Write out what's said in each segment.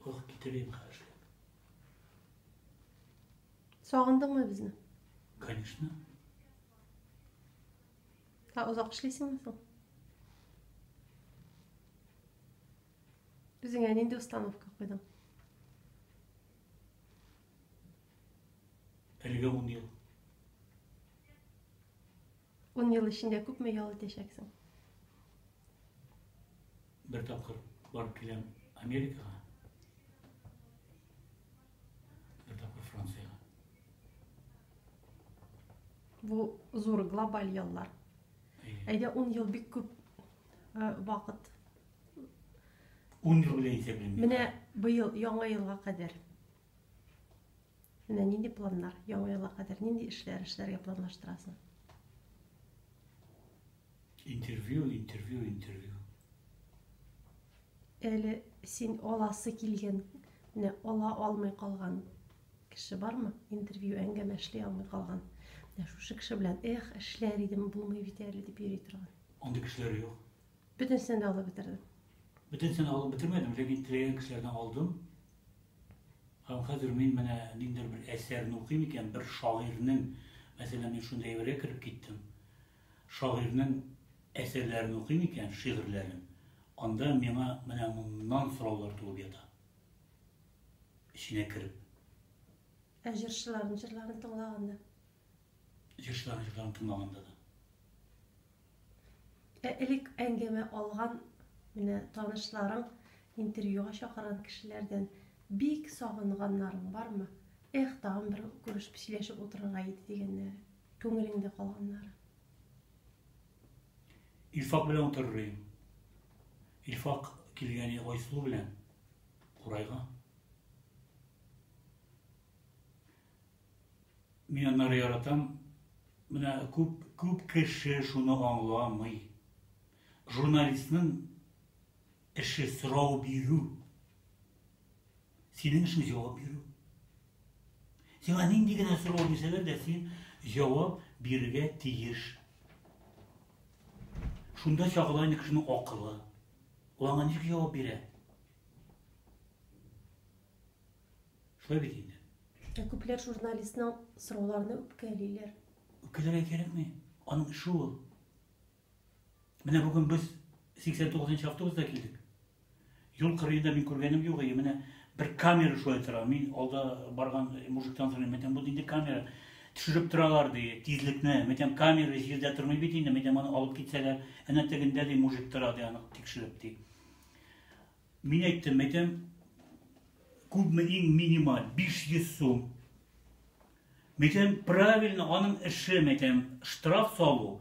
Ох, китерим хәзер. Сагындыңмы безне? Конечно. Ә озак эшлисеңме соң? Үзеңә нинди установка куйдың? Әлегә ун ел. Ун ел эчендә күпме ял итәчәксең? Бер тапкыр барып киләм Америкага. Бер тапкыр Франциягә. Бу зур глобаль яллар. Әйдә 10 ел бик күп э, вакыт. 10 ел белән исәплим. Менә быел яңа елга кадәр. Менә нинди планнар? Яңа елга кадәр нинди эшләр эшләргә планлаштырасың? Интервью, интервью, интервью. Әле син аласы килгән, менә ала алмый калган кеше бармы? Интервью әңгәмә эшли алмый калган. Менә шушы кеше белән эх, эшләр идем, булмый бит әле дип йөри торган. Андый кешеләр юк. Бөтенсен дә алып бетердем. Бөтенсен алып бетермәдем, ләкин теләгән кешеләрдән алдым. Һәм хәзер мин менә ниндер бер әсәрне укыйм икән, бер шагыйрьнең, мәсәлән, мин шундый әйбергә кереп киттем. Шагыйрьнең әсәрләрен укыйм икән, шигырьләрен, анда миңа менә моннан сораулар туып ята. Эченә кереп. Ә җырчыларның җырларын тыңлаганда? Җырчыларның җырларын тыңлаганда да. Ә элек әңгәмә алган менә танышларың, интервьюга чакырган кешеләрдән бик сагынганнарың бармы? Эх, тагын бер күрешеп, сөйләшеп утырырга иде дигәннәре. Күңелеңдә калганнары. Илфак белән утырыр идем. Илфак килгән иде Айсылу белән Курайга. Мин аннары яратам. Менә күп, күп кеше шуны аңламый. Журналистның эше сорау бирү. Синең эшең җавап бирү. Сиңа нинди генә сорау бирсәләр дә, син җавап бирергә тиеш. Шунда чагыла инде кешенең акылы. Ул аңа ничек җавап бирә? Шулай бит инде. Ә күпләр журналистның сорауларына үпкәлиләр. Үпкәләргә кирәкми. Аның эше ул. Менә бүген без 89 нчы автобуста килдек. Юл кырыенда мин күргәнем юк, и менә бер камера шулай тора. Мин алда барган мужиктан сорыйм, мәтәм бу нинди камера? Төшереп торалар ди, тизлекне. Мәтәм камера җирдә тормый бит инде, мәтәм аны алып китсәләр, әнә тегендә ди мужик тора ди, аны тикшереп ди. Мин әйттем, мәтәм күпме иң минималь 500 сум. Мәйтәм, правильно аның эше, мәйтәм, штраф салу,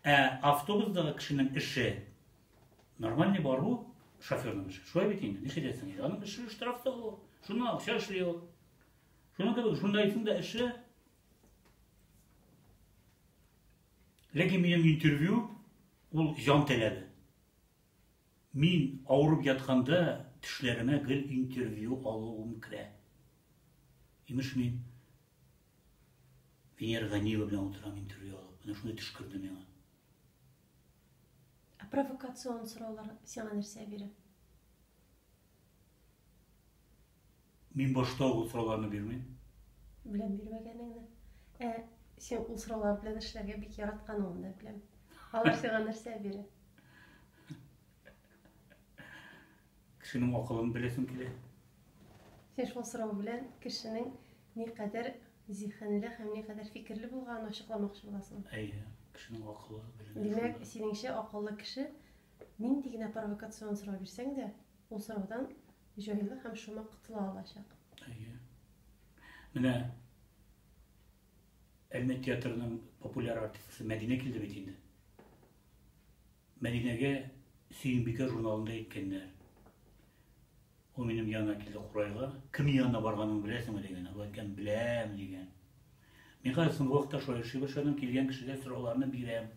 ә автобусдагы кешенең эше, нормальный бару, шоферның эше. Шулай бит инде, нишләтәсең инде, аның эше штраф салу, шуны акча эшли ул. Шуның кебек, шундайсың да эше. Ләкин минем интервью, ул җан теләде. Мин авырып ятканда төшләремә гел интервью алуым керә. Имеш мин Венера Ганиева белән утырам интервью алып. Менә шундый төш керде миңа. Ә провокацион сораулар сиңа нәрсә бирә? Мин башта ук ул сорауларны бирмим. Беләм бирмәгәнеңне. Ә син ул сораулар белән эшләргә бик яратканыңны да беләм. Алар сиңа нәрсә бирә? Кешенең акылын беләсем килә. Син шул сорау белән кешенең никадәр зиһенле һәм никадәр фикерле булганын ачыкламакчы буласың. Әйе, кешенең акылы белән. Димәк, синеңчә акыллы кеше нинди генә провокацион сорау бирсәң дә, Ул сораудан җайлы һәм шома котыла алачак. Әйе. Менә Әлмәт театрының популяр артисткасы Мәдинә килде бит инде. Мәдинәгә Сөембикә журналында әйткәннәр. Ул минем янына килде Курайга. Кемнең янына барганын беләсеңме дигән. Ул әйткән, беләм дигән. Мин хәзер соңгы вакытта шаяршый башладым, килгән кешегә сорауларны бирәм.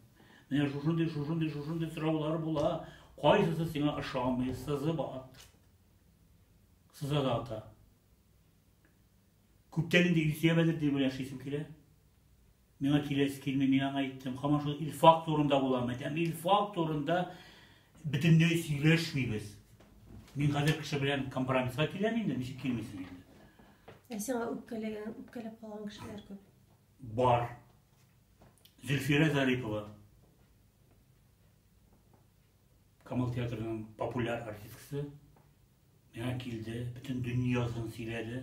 Менә шушындый, шушындый, шушындый сораулар була, кайсысы сиңа ошамый, сызып ат. Сыза да ата. Күптән инде Илсөя Бәдердин белән эшлисем килә. Миңа киләсе килми, мин аңа әйттем. Һаман шул Илфак турында буламы? Әйтәм, Илфак турында Бөтенләй сөйләшмибез. Мин хәзер кеше белән компромисска киләм инде, ничек килмисең инде. Ә сиңа үпкәләгән, үпкәләп калган кешеләр күп. Бар. Зөлфирә Зарипова. Камал театрының популяр артисткасы. Миңа килде, бөтен дөньясын сөйләде.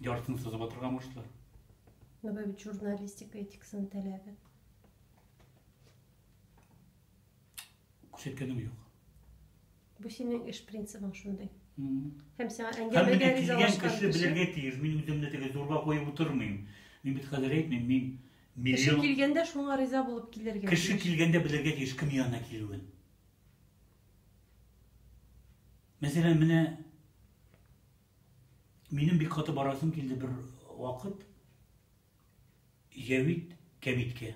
Яртыны сызып атырга мушты. Ну, бәбит журналистика этикасын таләбе. Күрсәткәнем юк. Бу синең эш принцибың шундый. Һәм сиңа әңгәмәгә ризалашкан кеше белергә тиеш. Мин үземне теге зурга куеп утырмыйм. Мин бит хәзер әйтмим, мин миллион... Кеше килгәндә шуңа риза булып килергә. Кеше килгәндә белергә тиеш кем янына килүен. Мәсәлән, менә минем бик каты барасым килде бер вакыт Җәвит кәбиткә.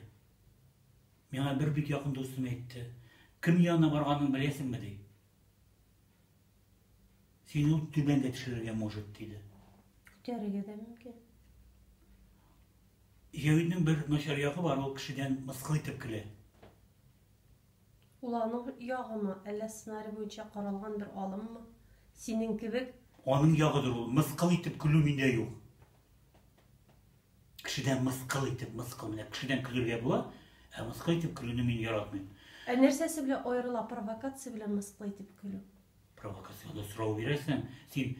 Миңа бер бик якын дустым әйтте. Кем янына барганын беләсеңме, ди. Син ул түбәнгә төшерергә может, диде. Күтәрергә дә мөмкин. Җәвитнең бер начар ягы бар, ул кешедән мыскыл итеп көлә. Ул аның ягымы, әллә сценарий буенча каралган бер алыммы? Синең кебек. Аның ягыдыр ул, мыскыл итеп көлү миндә юк. Кешедән мыскыл итеп, мыскыл менә кешедән көлергә була, ә мыскыл итеп көлүне мин яратмыйм. Ә нәрсәсе белән аерыла провокация белән мыскыл итеп көлү? Провокацияле сорау бирәсең, син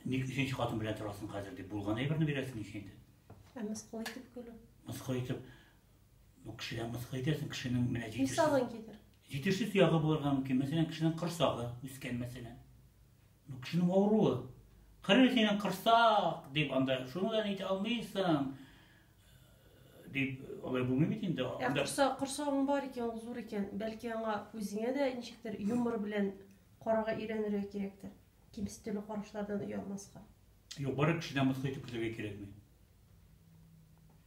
ник өченче хатын белән торасың хәзер дип булган әйберне бирәсең икенче. Ә мыскыл итеп көлү? Мыскыл итеп Ну, кешедән мыскыл итәсең, кешенең менә җитешсез... Хисабын китер. Җитешсез ягы булырга мөмкин. Мәсәлән, кешенең корсагы үскән, мәсәлән. Ну, кешенең авыруы. Кыры синең корсак, дип анда, шуны да әйтә алмыйсың, дип, алай булмый бит инде. Ә корсак, корсагың бар икән, ул зур икән, бәлки аңа үзеңә дә ничектер юмор белән карарга өйрәнергә кирәктер. Кимсетүле карашлардан оялмаска. Юк, бары кешедән мыскыл итеп көтәргә кирәкми.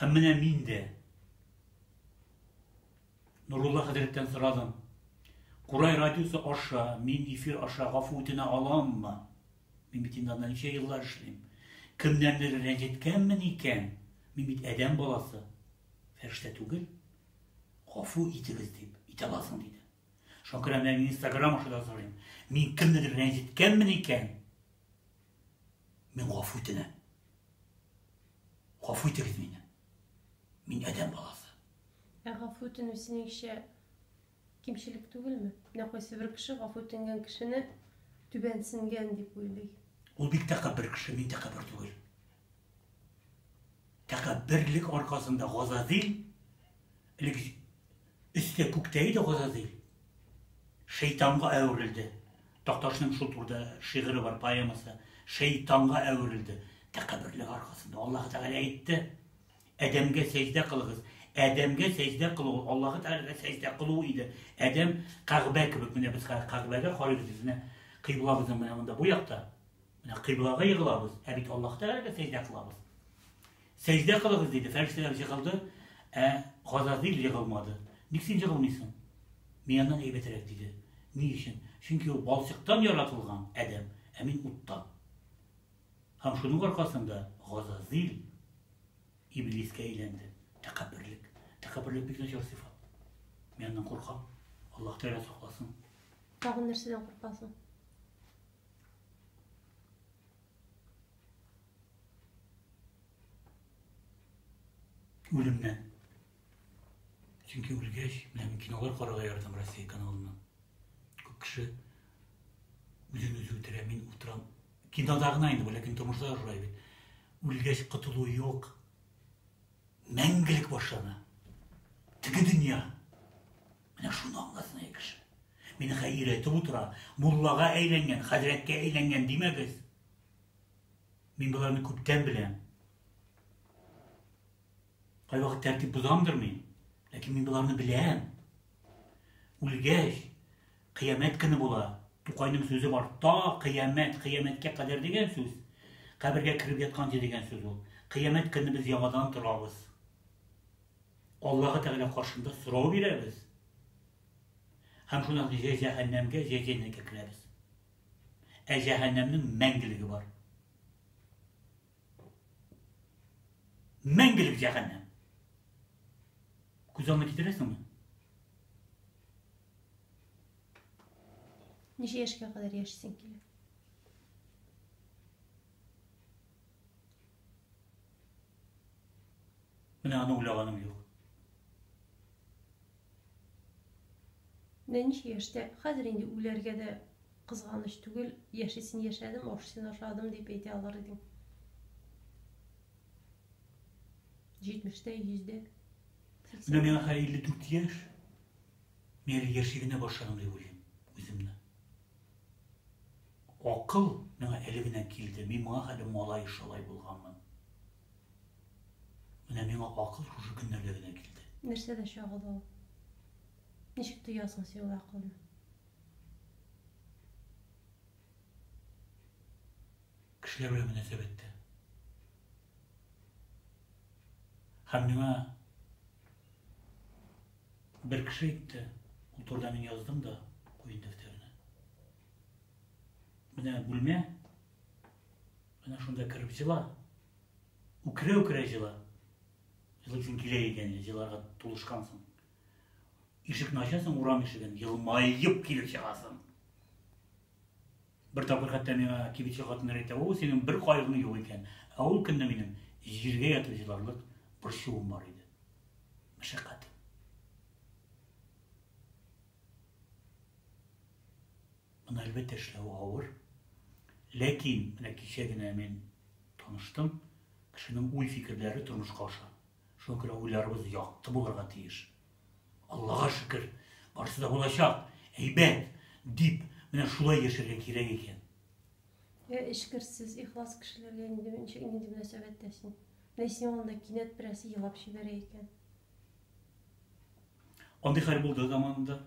Һәм менә мин дә Нурулла хәзрәттән сорадым. Курай радиосы аша мин эфир аша гафу үтенә аламмы? Мин бит инде анда ничә еллар эшлим. Кемнәрнедер рәнҗеткәнмен икән? Мин бит адәм баласы. Фәрештә түгел. Гафу итегез дип, итә аласың диде. Шуңа күрә менә мин Инстаграм аша да сорыйм. Мин кемнедер рәнҗеткәнмен икән? Мин гафу үтенәм. Гафу итегез мине. Мин адәм баласы. Ә гафу үтенү синеңчә кимчелек түгелме? Менә кайсы бер кеше гафу үтенгән кешене түбәнсенгән дип уйлый. Ул бик тәкәббер кеше, мин тәкәббер түгел. Тәкәбберлек аркасында Газазил элек Өсте күктә иде Газазыйл. Шәйтанга әверелде. Такташның шул турыда шигыре бар, поэмасы. Шәйтанга әверелде. Тәкәбберлеге аркасында. Аллаһы Тәгалә әйтте, Адәмгә сәҗдә кылыгыз. Адәмгә сәҗдә кылу ул Аллаһы Тәгаләгә сәҗдә кылу иде. Адәм Кәгъбә кебек, менә без хәзер Кәгъбәгә карыйбыз, безне кыйблабызның менә монда бу якта. Менә кыйблага егылабыз, ә бит Аллаһ Тәгаләгә сәҗдә кылабыз. Сәҗдә кылыгыз, диде. Фәрештәләр җыгылды, ә Газазил егылмады. Ник син җыгылмыйсың? Мин аннан әйбәтрәк, диде. Ни өчен? Чөнки ул балчыктан яратылган адәм, ә мин уттан. Һәм шуның аркасында Газазил иблискә әйләнде. Тәкәбберлек. Тәкәбберлек бик начар сыйфат. Мин аннан куркам. Аллаһ Тәгалә сакласын. Тагын нәрсәдән куркасың? Үлемнән. Чөнки үлгәч, менә мин кинолар карарга яратам Россия каналыннан. Күп кеше үзен үзе үтерә, мин утырам. Кинода гына инде, ләкин тормышта шулай бит. Үлгәч котылу юк. Мәңгелек башлана. Теге дөнья. Менә шуны аңласын әй кеше. Минехә өйрәтеп утыра, муллага әйләнгән, хәзрәткә әйләнгән димәгез. Мин боларны күптән беләм. Кайвакыт тәртип бозамдыр мин, ләкин мин боларны беләм. Үлгәч, кыямәт көне була. Тукайның сүзе бар, та кыямәт, кыямәткә кадәр дигән сүз. Кабергә кереп ятканчы дигән сүз ул. Кыямәт көне без яңадан торабыз. Аллаһы Тәгалә каршында сорау бирәбез. Һәм шуннан соң җә җәһәннәмгә, җә җәннәткә керәбез. Ә җәһәннәмнең мәңгелеге бар. Мәңгелек җәһәннәм. Күз алдына китерәсеңме? Ничә яшькә кадәр яшисең килә? Менә аны уйлаганым юк. Менә ничек яшьтә, хәзер инде үләргә дә кызганыч түгел, яшисен яшәдем, ашысын ашадым дип әйтә алыр идең. Җитмештә, йөздә. Менә миңа хәзер 54 яшь. Мин әле яши генә башладым дип уйлыйм үземне. Акыл миңа әле генә килде, мин моңа хәле малай шалай булганмын. Менә миңа акыл шушы көннәрдә генә килде. Нәрсәдә чагыла ул? Ничек тоясың син ул акылны? Кешеләр белән мөнәсәбәттә. Һәм миңа Бер кеше әйтте, ул турыда мин яздым да куен дәфтәренә. Менә бүлмә, менә шунда кереп җыла. Үкерә-үкерә җыла. Җылы көн килә икән, җыларга тулышкансың. Ишекне ачасың, урам ишеген, елмаеп килеп чыгасың. Бер тапкыр хәтта миңа кибетче хатыннар әйтә, О, синең бер кайгың юк икән, ә ул көнне минем җиргә ятып җыларлык борчуым бар иде. Мәшәкать. Моны әлбәттә эшләү авыр. Ләкин менә кичә генә мин таныштым, кешенең уй-фикерләре тормышка аша. Шуңа күрә уйларыбыз якты булырга тиеш. Аллага шөкер, барысы да булачак, әйбәт, дип, менә шулай яшәргә кирәк икән. Йә, эчкерсез, ихлас кешеләргә инде ничек нинди мөнәсәбәттә син? Менә синең алдында кинәт берәрсе елап җибәрә икән. Андый хәл булды заманында.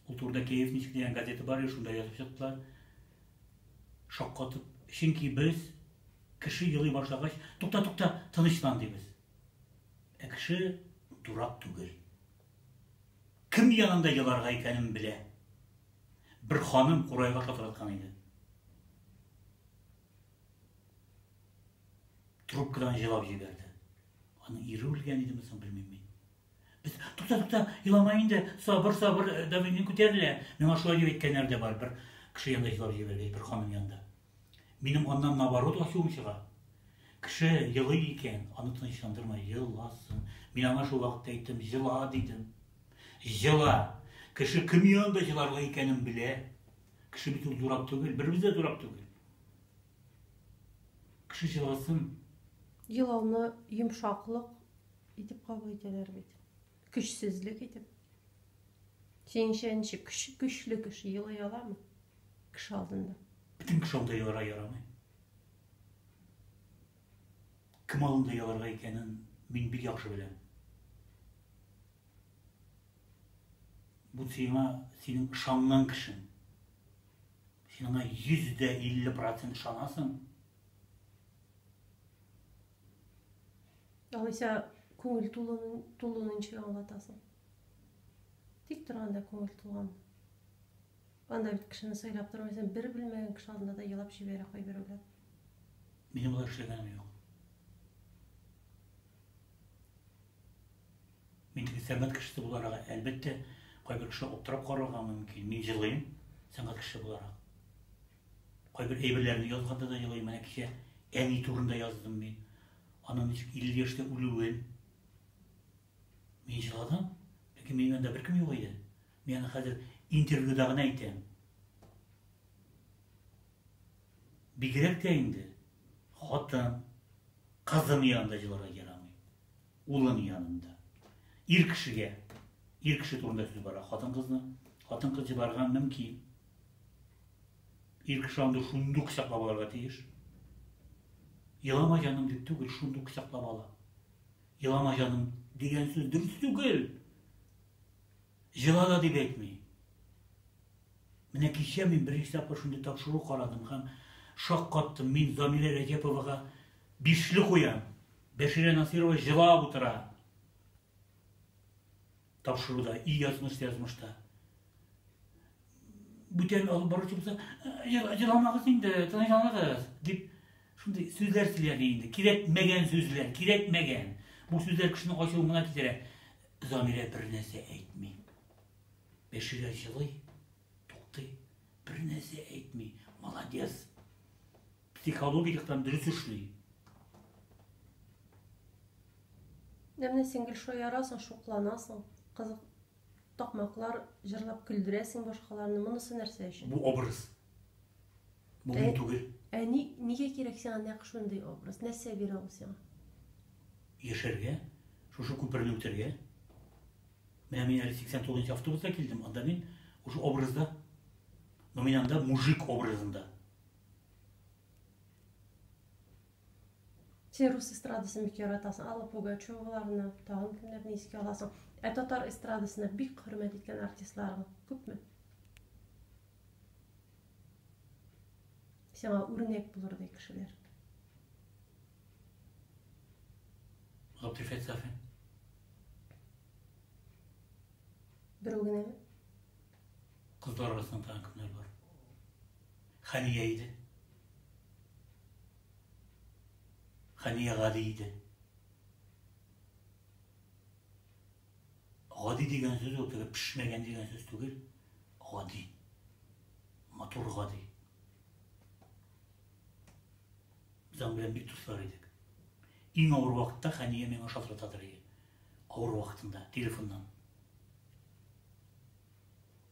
Ул турыда Киев ничек дигән газета бар иде, шунда язып чыктылар. Шаккатып. Чөнки без кеше елый башлагач, тукта, тукта, тынычлан дибез. Ә кеше дурак түгел. Кем янында еларга икәнен белә. Бер ханым курайга шалтыраткан иде. Трубкадан җылап җибәрде. Аның ире үлгән идеме соң, белмим мин. Без, тукта, тукта, елама инде, сабыр, сабыр, э, давление күтәрелә. Миңа шулай дип әйткәннәр дә бар, бер кеше янында елап җибәргәч, бер ханым янында. Минем аннан наоборот ачуым чыга. Кеше елый икән, аны тынычландырма, еласын. Мин аңа шул вакытта әйттем, җыла дидем. Җыла. Кеше кем янында җыларга икәнен белә. Кеше бит ул дурак түгел, беребез дә дурак түгел. Кеше җылысын. Елауны йомшаклык итеп кабул итәләр бит. Көчсезлек итеп. Синеңчә ничек көч, көчле кеше елый аламы? Кеше алдында. Бөтен кеше алдында еларга ярамый. Кем алдында еларга икәнен мин бик яхшы беләм. Бу сиңа синең ышанган кешең. Сиңа 150 процент шанасың. Алайса күңел тулуны ничек аңлатасың? Тик торганда күңел тулган. Анда бит кешене сайлап тормыйсың, бер белмәгән кеше алдында да елап җибәрә кайберәүләр. Минем болай эшләгәнем юк. Мин теге сәнгать кешесе буларак, әлбәттә, кайбер кешеләр аптырап карарга мөмкин. Мин җылыйм, сәнгать кешесе буларак. Кайбер әйберләрне язганда да җылыйм. Менә кичә әни турында яздым мин. Аның ничек 50 яшьтә үлүен. Мин җыладым. Ләкин минем янында беркем юк иде. Мин аны хәзер интервьюда гына әйтәм. Бигрәк тә инде хатын, кызым янында җыларга ярамый. Улың янында. Ир кешегә. Ир кеше турында сүз бара. Хатын-кызны. Хатын-кыз җибарган мөмкин. Ир кеше андый шундук кочаклап алырга тиеш. Елама җаным дип түгел, шундук кочаклап ала. Елама җаным дигән сүз дөрес түгел. Җылала дип әйтми. Менә кичә мин беренче тапкыр шундый тапшыру карадым һәм шаккаттым. Мин Замирә Рәҗәповага бишле куям. Бәширә Насыйрова җылап утыра. Тапшыруда, и язмыш язмышта. Бүтән алып баручы булса, җыламагыз инде, тынычланыгыз, дип шундый сүзләр сөйләде инде. Кирәкмәгән сүзләр, кирәкмәгән. Бу сүзләр кешенең ачуын гына китерә. Замирә бернәрсә әйтми. Бәширә җылый, туктый, бернәрсә әйтми. Молодец. Психология яктан дөрес эшли. Менә син гел шаярасың, шукланасың. Кызык такмаклар җырлап көлдерәсең башкаларны. Монысы нәрсә өчен? Бу образ. Бу мин түгел. Ә ни, нигә кирәк сиңа нәкъ шундый образ? Нәрсә бирә ул сиңа? Яшәргә, шушы күперне үтәргә. Менә мин әле 89 нчы автобуста килдем, анда мин шушы образда. Но мин анда мужик образында. Син рус эстрадасын бик яратасың, Алла Пугачеваларны, тагын кемнәрне искә аласың? Ә татар эстрадасына бик хөрмәт иткән артистларың күпме? Сиңа үрнәк булырдай кешеләр. Гатифә Сафин. Берәү генәме? Кызлар арасында тагын кемнәр бар? Хәния иде. Хәния гади иде. Гади дигән сүз ул теге пешмәгән дигән сүз түгел. Гади. Матур гади. Без аның белән бик дуслар идек. Иң авыр вакытта Хәния миңа шалтыратадыр иде. Авыр вакытында, телефоннан.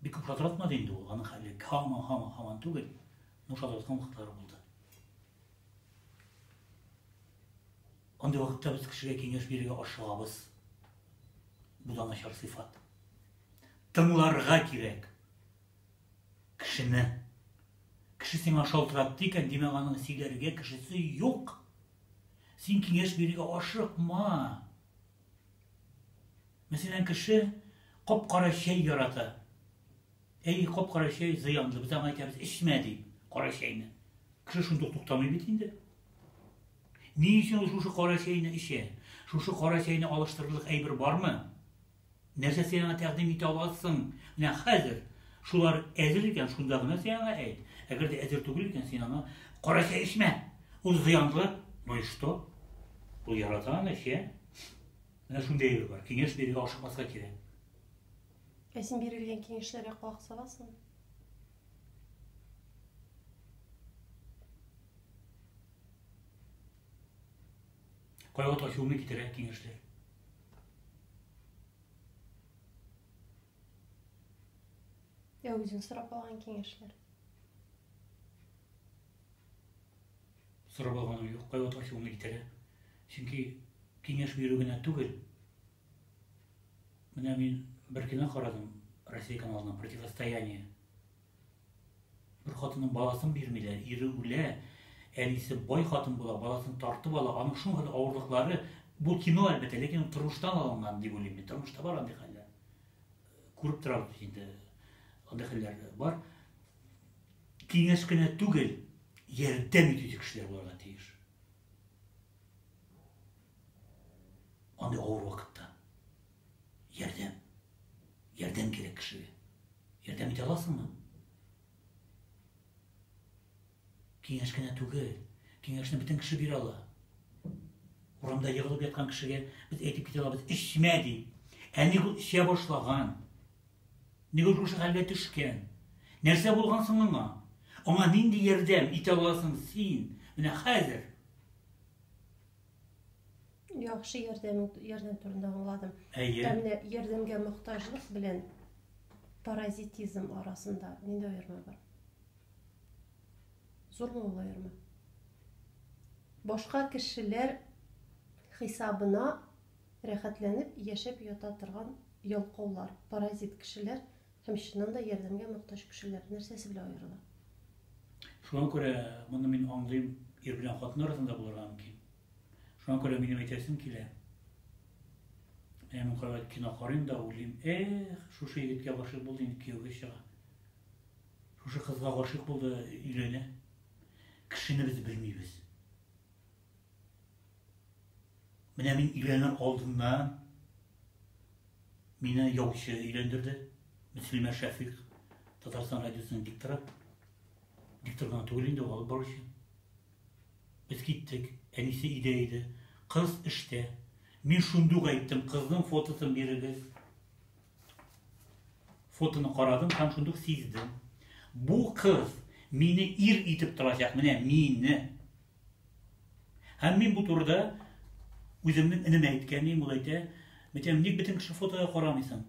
Бик күп шалтыратмады инде ул, аның хәле һаман, һаман, һаман түгел, но шалтыраткан вакытлары булды. Андый вакытта без кешегә киңәш бирергә ашыгабыз. Бу да начар сыйфат. Тыңларга кирәк кешене. Кеше сиңа шалтыратты икән, димәк, аның сөйләргә кешесе юк. Син киңәш бирергә ашыкма. Мәсәлән, кеше кап-кара чәй ярата. Әй, кап-кара чәй зыянлы, без аңа әйтәбез, эчмә дип, кара чәйне. Кеше шундый ук туктамый бит инде. Ни өчен ул шушы кара чәйне эчә? Шушы кара чәйне алыштырырлык әйбер бармы? Нәрсә син аңа тәкъдим итә аласың? Менә хәзер шулар әзер икән, шунда гына син аңа әйт. Әгәр дә әзер түгел икән, син аңа кара чәй эчмә. Ул зыянлы. Ну и что? Ул ярата аны, эчә. Менә шундый әйбер бар. Киңәш бирергә ашыкмаска кирәк. Ә син бирелгән киңәшләргә колак саласың? Кайгы ташуны китерә киңәшләр. Ә үзең сорап алган киңәшләр. Сорап алганым юк, кайвакыт ачуымны китерә. Чөнки киңәш бирү генә түгел, Менә мин бер кино карадым Россия каналына противостояние. Бер хатынның баласын бирмиләр, ире үлә, әнисе бай хатын була, баласын тартып ала, аның шуңгыл авырлыклары бу кино әлбәттә, ләкин тормыштан алынган дип уйлыйм. Тормышта бар андый хәлләр. Күреп торабыз инде. Андый хәлләр бар. Киңәш кенә түгел, ярдәм итүче кешеләр булырга тиеш. Андый авыр вакытта ярдәм, ярдәм кирәк кешегә. Ярдәм итә аласыңмы? Киңәш кенә түгел, киңәшне бөтен кеше бирә ала. Урамда егылып яткан кешегә без әйтеп китә алабыз, эчмә ди. Әни ул эчә башлаган. Нигә шушы хәлгә төшкән? Нәрсә булган соң аңа? Аңа нинди ярдәм итә аласың син менә хәзер? Яхшы ярдәм, ярдәм турында аңладым. Әйе. Ә менә ярдәмгә мохтаҗлык белән паразитизм арасында нинди аерма бар? Зурмы ул аерма? Башка кешеләр хисабына Рәхәтләнеп яшәп ята торган ялкаулар, паразит кешеләр һәм чыннан да ярдәмгә мохтаҗ кешеләр нәрсәсе белән аерыла? Шуңа күрә моны мин аңлыйм, ир белән хатын арасында булырга мөмкин. Шуңа күрә минем әйтәсем килә, менә мин кайвакыт кино карыйм да уйлыйм, эх, шушы егеткә гашыйк булды, инде кияүгә чыга. Шушы кызга гашыйк булды, өйләнә. Кешене без белмибез. Менә мин өйләнер алдыннан мине яучы өйләндерде. Мөслимә Шәфик, Татарстан радиосының дикторы. Диктор гына түгел инде, алып баручы. Без киттек. Әнисе өйдә иде. Кыз эштә. Мин шунда ук әйттем, кызның фотосын бирегез. Фотоны карадым һәм шунда ук сиздем. Бу кыз мине ир итеп торачак, менә мине. Һәм мин бу турыда үземнең энемә әйткәнем, ул әйтә, Митям, ник бөтен кеше фотога карамыйсың?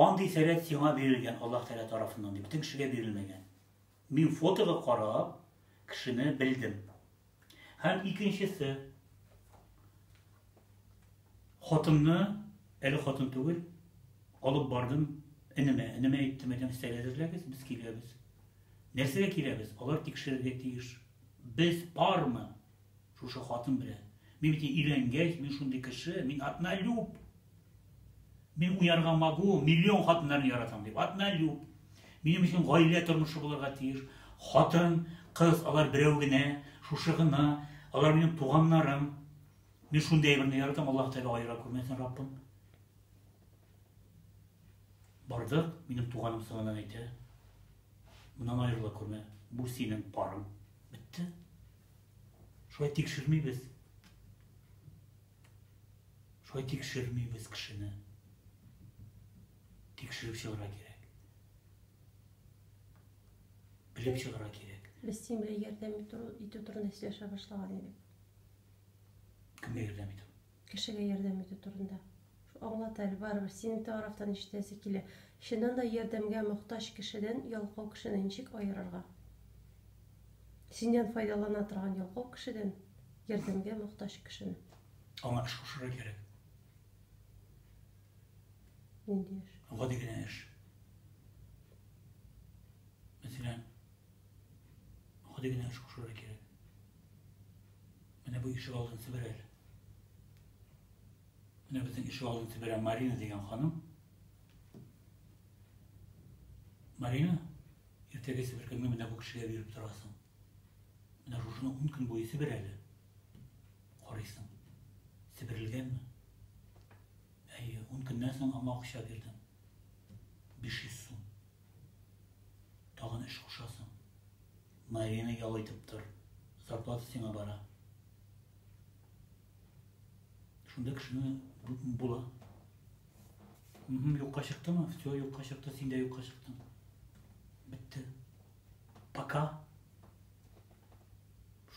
Андый сәләт сиңа бирелгән Аллаһ Тәгалә тарафыннан, дип, бөтен кешегә бирелмәгән. Мин фотога карап, кешене белдем. Һәм икенчесе, Хатынны, әле хатын түгел, алып бардым энемә. Энемә әйттем, әйтәм, стәл әзерләгез, без киләбез. Нәрсәгә киләбез? Алар тикшерергә тиеш. Без пармы? Шушы хатын белән. Мин бит өйләнгәч, мин шундый кеше, мин однолюб. Мин уярга могу, миллион хатыннарны яратам дип. Однолюб. Минем өчен гаилә тормышы булырга тиеш. Хатын, кыз, алар берәү генә, шушы гына. Алар минем туганнарым. Мин шундый әйберне яратам, Аллаһ Тәгалә аера күрмәсен, Раббым. Бардык, минем туганым сыңаннан әйтә. Моннан аерыла күрмә. Бу синең парың. Бетте. Шулай тикшермибез. Шулай тикшермибез кешене. Тикшереп чыгарга кирәк. Белеп чыгарга кирәк. Без син белән ярдәм итү турында сөйләшә башлаган идек. Кемгә ярдәм итү? Кешегә ярдәм итү турында. Аңлат әле, барыбер синең тарафтан ишетәсе килә. Чыннан да ярдәмгә мохтаҗ кешедән ялкау кешене ничек аерырга? Синнән файдалана торган ялкау кешедән ярдәмгә мохтаҗ кешене. Аңа эш кушырга кирәк. Нинди эш? Гади генә эш. Мәсәлән, гади генә эш кушырга кирәк. Менә бу ишек алдын себер әле. Менә безнең ишек алдын себерә Марина дигән ханым. Марина, иртәгә себеркәңне менә бу кешегә биреп торасың. Менә шушыны ун көн буе себер әле. Карыйсың. Себерелгәнме? Әйе, ун көннән соң аңа акча бирдем. 500 сум. Тагын эш кушасың. Марияны ял итеп тор, зарплата сиңа бара. Шунда кешене була. Юкка чыктымы? Все, юкка чыкты, син дә юкка чыктың. Бетте. Пока.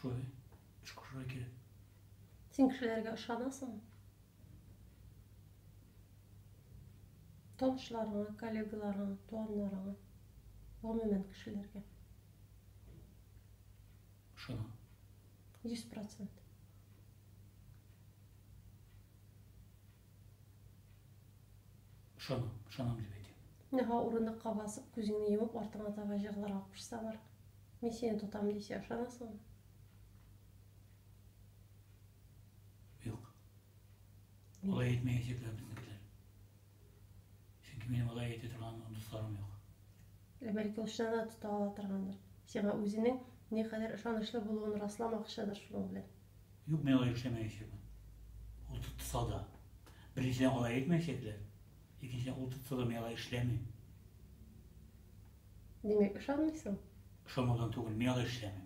Шулай. Шкушырга кирәк. Син кешеләргә ышанасың? Танышларыңа, коллегаларыңа, туганнарыңа, гомумән кешеләргә. Шуна. 100%. Шуна, шуна дип әйтәм. Нәһа урындыкка басып, күзеңне йомып, артыңа таба җыгылырга кушсалар, мин сине тотам дисә, ышанасыңмы? Юк. Алай әйтмәячәкләр безнекеләр. Чөнки минем алай әйтә торган дусларым юк. Ә бәлки ул чыннан да тота ала торгандыр. Сиңа үзенең ни кадәр ышанычлы булуын расламакчыдыр шуның белән. Юк, мин алай эшләмәячәкмен. Ул тотса да. Беренчедән алай әйтмәячәкләр. Икенчедән ул тотса да мин алай эшләмим. Димәк, ышанмыйсың? Ышанудан түгел, мин алай эшләмим.